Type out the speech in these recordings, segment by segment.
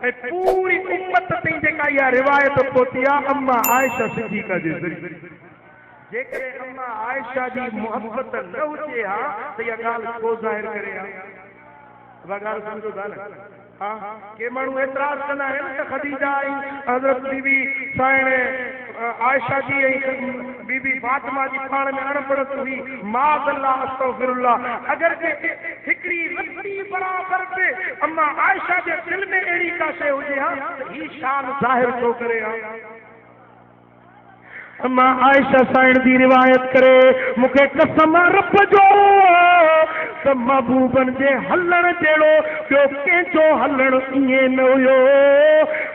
۽ پوري امت تائين جيڪا اها روايت پهتي آهي اما عائشه صديقه جي ذريعي. جيڪڏهن اما عائشه جي محبت نه هجي ها ته اها ڳالهه ڇو ظاهر ڪري ها؟ اها ڳالهه سمجهو ٿا نه؟ ها ڪي ماڻهو اعتراض ڪندا آهن ته خديجه ۽ حضرت بي بي سائڻ عائشه جي ۽ بي بي فاطمه جي پاڻ ۾ اڻبڻت هئي، معاذ الله استغفر الله، اگرچه هڪڙي رتي برابر به اما عائشه جي دل ۾ اهڙي ڪا شيء هجي ها ته هي شان ظاهر ڇو ڪري ها؟ اما عائشه سائڻ جي روايت ڪري، مون کي قسم آ رب جو ته محبوبن جي هلڻ جهڙو ٻيو ڪنهن جو هلڻ ائين نه هيو،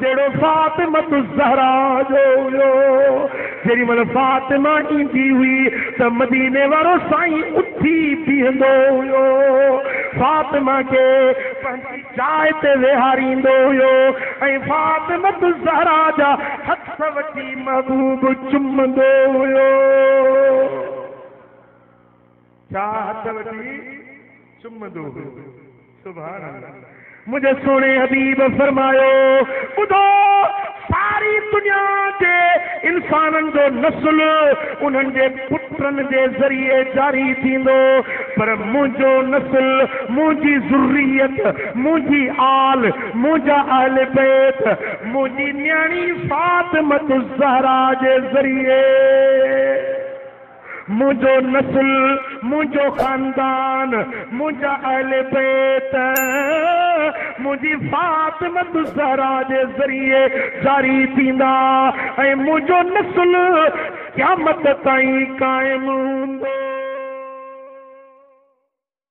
جهڙو فاطمة الزهراء جو هيو. جيڏي مهل فاطمه ايندي هئي ته مديني وارو سائين اٿي بيهندو هيو. فاطمه کي پنهنجي جاء تي ويهاريندو هيو ۽ فاطمة الزهراء جا هٿ وٺي محبوب چمندو هيو. ساهه هٿ وٺي چمندو هو سبحان الله منهنجي سهڻي حبيب فرمايو ٻڌو ساري دنيا جي انسانن جو نسل انهن جي پٽن جي ذريعي جاري ٿيندو پر منهنجو نسل منهنجي ذريت منهنجي آل منهنجا اهل بيت منهنجي نياڻي فاطمه الزهرا جي ذريعي منهنجو نسل، منهنجو خاندان، منهنجا اهل بيت منهنجي فاطمة الزهراء جي ذريعي جاري ٿيندا ۽ منهنجو نسل قيامت تائين قائم هوندو.